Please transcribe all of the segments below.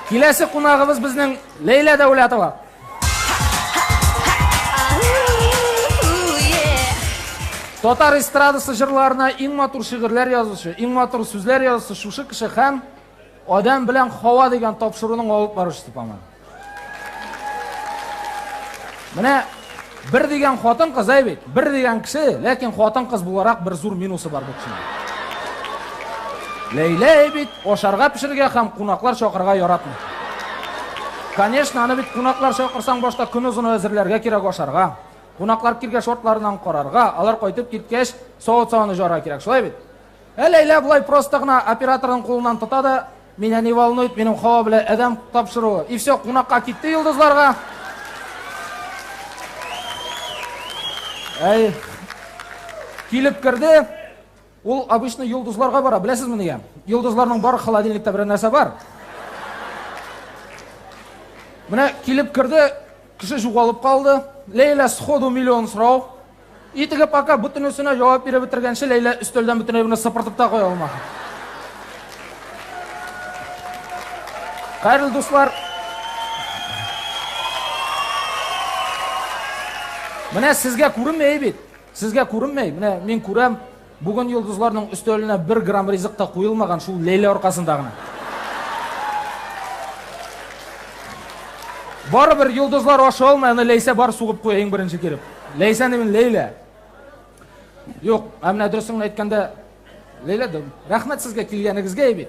Киләсе кунагыбыз безнең Ләйлә Дәүләтова. Татар эстрадасы җырларына иң матур шигырьләр язучы, иң матур сүзләр язучы шушы кеше һәм Адәм белән Хава дигән тапшыруның алып баручысы, по-моему. Менә Бер дигән хатын-кыз, әй бит, бер дигән кеше, ләкин хатын-кыз буларак бер зур минусы бар бу кешенең. Ләйлә әй бит, ашарга пешерергә һәм кунаклар чакырырга яратмый. Конечно, аны бит кунаклар чакырсаң башта көн озыны әзерләргә кирәк ашарга. Кунаклар киргә шортларынан карарга, алар кайтып киткәч, савыт-саваны жара кирәк, шулай бит? Ә Ләйлә болай просто гына операторның кулыннан тота да, Меня не волнует минем Хава белән Әдәм тапшыруы. И все, кунакка китте йолдызларга. Әй, килеп керде, ул обычно йолдызларга бара, беләсезме нигә? Йолдызларның бар холодильникта бер нәрсә бар. Менә килеп керде, кеше жугалып калды. Ләйлә сходу миллион сорау. Итеге пока бөтенесенә җавап биреп бетергәнче Ләйлә өстәлдән бөтенләй генә сыпыртып та куя алмады. Хәерле дуслар. Менә сезгә күренмәй бит. Сезгә күренмәй. Менә мин күрәм. Бүген йолдызларның өстәленә бер грамм ризык та куелмаган, шул Ләйлә аркасында гына. Барыбер йолдызлар ашый алмый, аны Ләйсә бар сугып куя иң беренче килеп. Ләйсәне мин Ләйлә. Юк, ә менә дөресен әйткәндә Ләйлә, рәхмәт сезгә килгәнегезгә бит.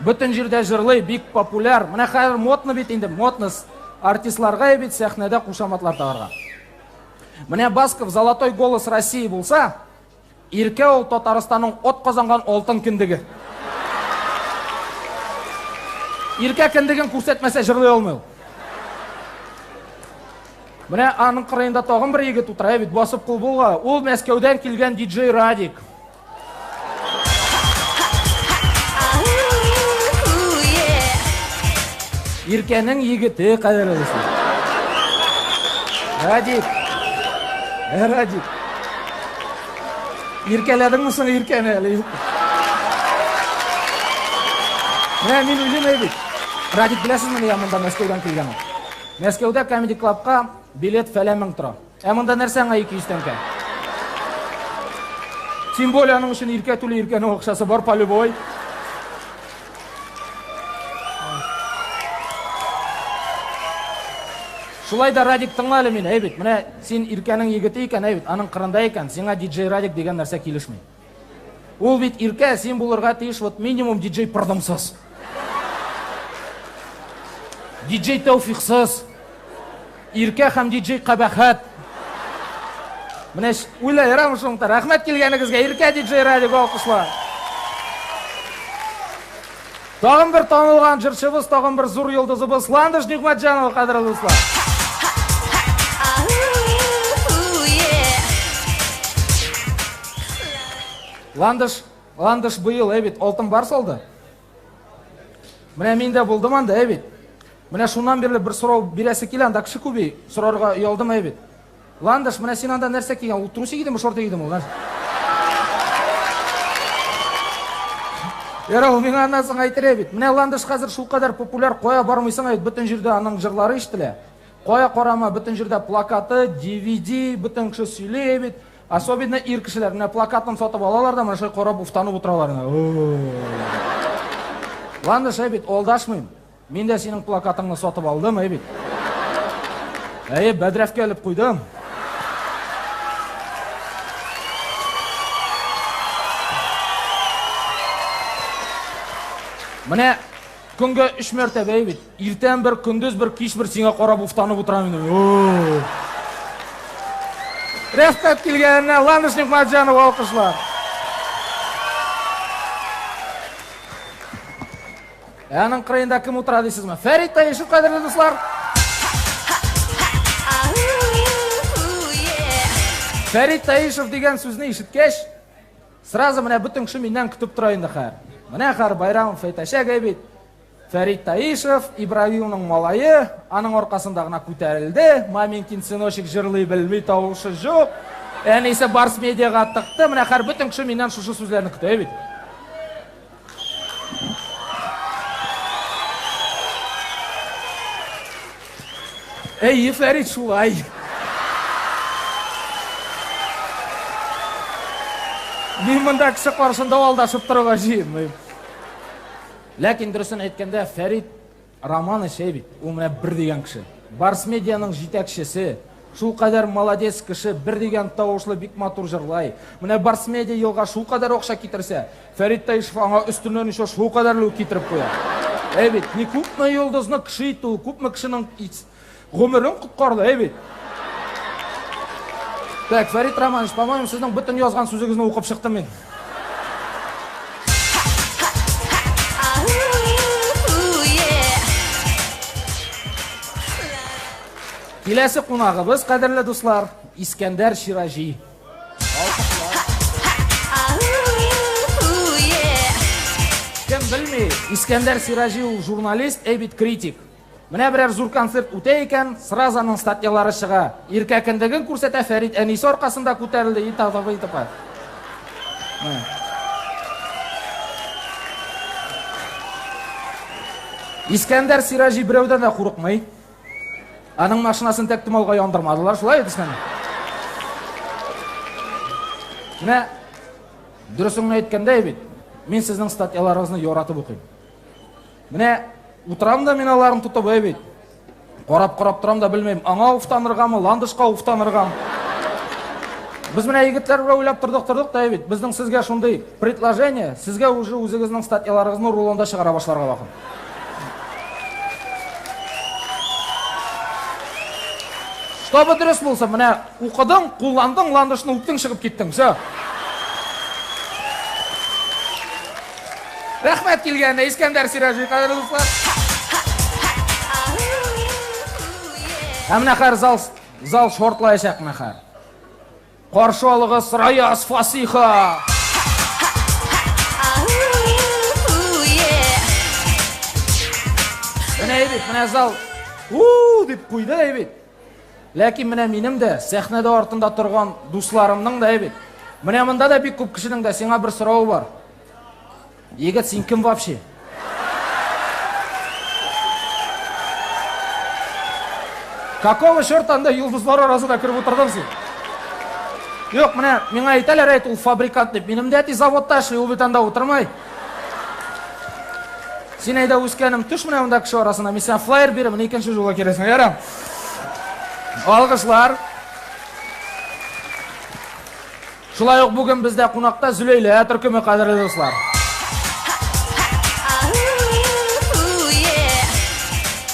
Бөтен җирдә җырлый, бик популяр. Менә хәзер модно бит инде, модно артистларга бит сәхнәдә кушаматлар тагарга. Менә Басков Золотой голос России булса, Иркә ул Татарстанның от казанган алтын кендеге. Иркә кендеген күрсәтмәсә җырлый алмый ул. Менә аның кырыенда тагын бер егет утыра бит, басып кул булга. Ул Мәскәүдән килгән диджей Радик. Иркәнең егете кадәр алысын. Радик. Ә, Радик. Иркәләдеңме соң Иркәне әле? Менә мин уйлыйм әйбит. Радик беләсезме, я монда Мәскәүдән килгән. Мәскәүдә Comedy Club-ка билет фәлән мең тора. Ә монда нәрсә аңа 200 тәңкә? Тем более аның өчен иркә түли, иркәнең акчасы бар полюбой. Шулай да Радик тыңла әле мине, әй бит, менә син Иркәнең егете икән, әй бит, аның кырында икән, сиңа диджей Радик дигән нәрсә килешми. Ул бит иркә, син булырга тиеш вот минимум диджей Пырдымсыз. Диджей Тәүфиксыз. Иркә һәм диджей Кабәхәт. Менә уйлай ярамы шуның да. Рәхмәт килгәнегезгә, Иркә диджей радиога алкышлар. Тагын бер танылган җырчыбыз, тагын бер зур йолдызыбыз Ландыш Нигъмәтҗанова, кадерле дуслар. Ландыш, Ландыш быел, әй бит, алтын бар салды. Менә мин дә булдым анда, әй бит. Менә шуннан бирле бер сорау бирәсе килә, анда кеше күби, сорарга оялдым, әй бит. Ландыш, менә син анда нәрсә кигән? Ул трусик идеме, шорты идеме ул? Ярар, ул миңа аннан соң әйтер бит. Менә Ландыш хәзер шулкадәр популяр, кая бармыйсың, әйт, бөтен җирдә аның җырлары ишетелә. Кая карама, бөтен җирдә плакаты, DVD, бөтен кеше сөйли бит. Особенно ир кешеләр менә плакатын сатып алалар да, менә шулай карап уфтанып утыралар. Ландыш, әйт, алдашмыйм. Мин дә синең плакатыңны сатып алдым, әй бит. Әйе, бәдрәфкә элеп куйдым. Менә көнгә өч мәртәбә әй бит. Иртән бер, көндез бер, кич бер сиңа карап уфтанып утырам инде. Рәхмәт килгәненә, Ланыш Нигматҗанов алкышлар. Ә аның кырыенда кем утыра дисезме? Фәрит Таишев, кадерле дуслар! Фәрит Таишев дигән сүзне ишеткәч, сразу менә бөтен кеше миннән көтеп тора инде хәр. Менә хәр Байрамов әйтәчәк әй Фәрит Таишев, Ибраһимның малае, аның аркасында гына күтәрелде. Маменькин сыночек җырлый белми, тавышы җук. Әнисе Барс медиага тыкты. Менә хәр бөтен кеше миннән шушы сүзләрне көтә бит. Әйе, Фәрит, шулай. Мин монда кеше каршында алдашып торырга җыенмыйм. Ләкин дөресен әйткәндә, Фәрит Роман эче бит, ул менә бер дигән кеше. Барсмедианың җитәкчесе. Шулкадәр молодец кеше, бер дигән тавышлы, бик матур җырлай. Менә Барсмедиа елга шулкадәр акча китерсә, Фәрит Таишев аңа өстеннән еще шулкадәрле үк китереп куя. Әй бит, не күпме йолдызны кеше итте ул, күпме кешенең Гомерең коткарды, әй бит. Так, Фәрит Романович, по-моему, сезнең бөтен язган сүзегезне укып чыктым мин. Киләсе кунагыбыз, кадерле дуслар, Искәндәр Шираҗи. Кем белми, Искәндәр Шираҗи ул журналист, әй бит критик. Менә берәр зур концерт үтә икән, сразу аның статьялары чыга. Иркә кендеген күрсәтә, Фәрит әнисе аркасында күтәрелде и т.п. и т.п. Искәндәр Сираҗи берәүдән дә курыкмый. Аның машинасын тәк томалга яндырмадылар, шулай бит Искәндәр? Менә дөресен генә әйткәндә бит, мин сезнең статьяларыгызны яратып укыйм. Менә утырам да мин аларны тотып, әй бит. Карап карап торам да белмим, аңа уфтаныргамы, ландышка уфтаныргамы. Без менә егетләр белән уйлап тордык, тордык да бит. Безнең сезгә шундый предложение, сезгә уже үзегезнең статьяларыгызны рулонда чыгара башларга вакыт. Чтобы дөрес булса, менә Укыдың, кулландың, ландышны үптең, чыгып киттең. Все. Рәхмәт килгәненә, Искәндәр Сираҗи, кадерле дуслар. Ә менә хәзер зал, зал шортлаячак менә хәзер. Каршы алыгыз Раяз Фасиха. Менә әйбит, менә зал. У, дип куйды әйбит. Ләкин менә минем дә, сәхнәдә артында торган дусларымның да бит. Менә монда да бик күп кешенең дә сиңа бер соравы бар. Егет, син кем вообще? Какого черта анда йолдызлар арасында кереп утырдың син? Юк, менә миңа әйтәләр әйт ул фабрикант дип. Минем дә әти заводта эшли, ул бит анда утырмай. Син әйдә үскәнем, төш менә монда кеше арасына. Мин сиңа флайер бирәм, менә икенче жолга керәсең, ярам. Алгышлар. Шулай ук бүген бездә кунакта Зөләйлә төркеме кадерле дуслар.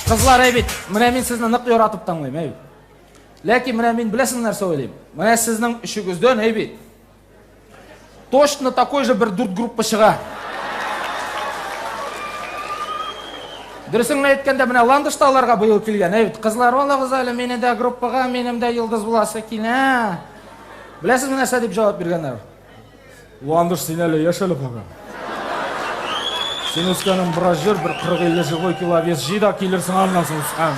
Кызлар, әй бит, менә мин сезне нык яратып тыңлыйм, әй бит. Ләкин менә мин беләсең нәрсә уйлыйм? Менә сезнең өчегездән, әй бит, Точно такой же бер дүрт группа чыга. Дөресен әйткәндә, менә Ландыш та аларга быел килгән. Әйт, кызлар, алагыз әле, мине дә группага, минем дә йолдыз буласы килә. Беләсезме нәрсә дип җавап биргәннәр? Ландыш син әле яшәле калган. Син үскәнең бераз җыр, бер 40-50 живой кило вес җый да килерсең аннан соң үскән.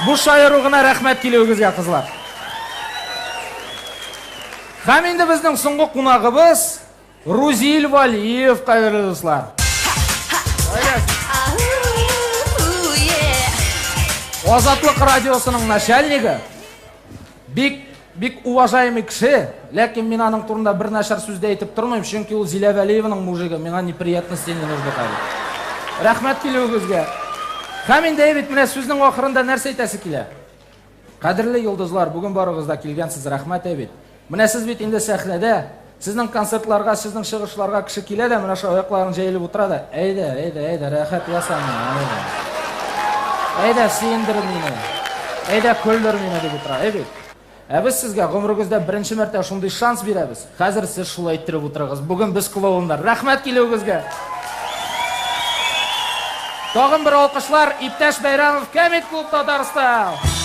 Бу шаяру гына рәхмәт килүегезгә, кызлар. Һәм инде безнең соңгы кунагыбыз Рузиль Валиев, кадерле дуслар. Азатлык радиосының начальнигы Бик, бик уважаемый кеше, ләкин мин аның турында бер начар сүз дә әйтеп тормыйм, чөнки ул Зилә Вәлиеваның мужигы, миңа неприятности не нужны хәзер. Рәхмәт килүегезгә. Һәм инде әйбит, менә сүзнең ахырында нәрсә әйтәсе килә? Кадерле йолдызлар, бүген барыгыз да килгәнсез, рәхмәт әйбит. Менә сез бит инде сәхнәдә, Сезнең концертларга, сезнең чыгышларга кеше килә дә, менә шулай аякларын җәелеп утыра да, әйдә, әйдә, әйдә, рәхәт яса мине. Әйдә, сөендер мине. Әйдә, көлдер мине дип утыра. Әй бит. Ә без сезгә гомерегездә беренче мәртәбә шундый шанс бирәбез. Хәзер сез шулай иттереп утырыгыз. Бүген без клоуннар. Рәхмәт килүегезгә. Тагын бер алкышлар иптәш Бәйрәмов Кәмит клуб Татарстан.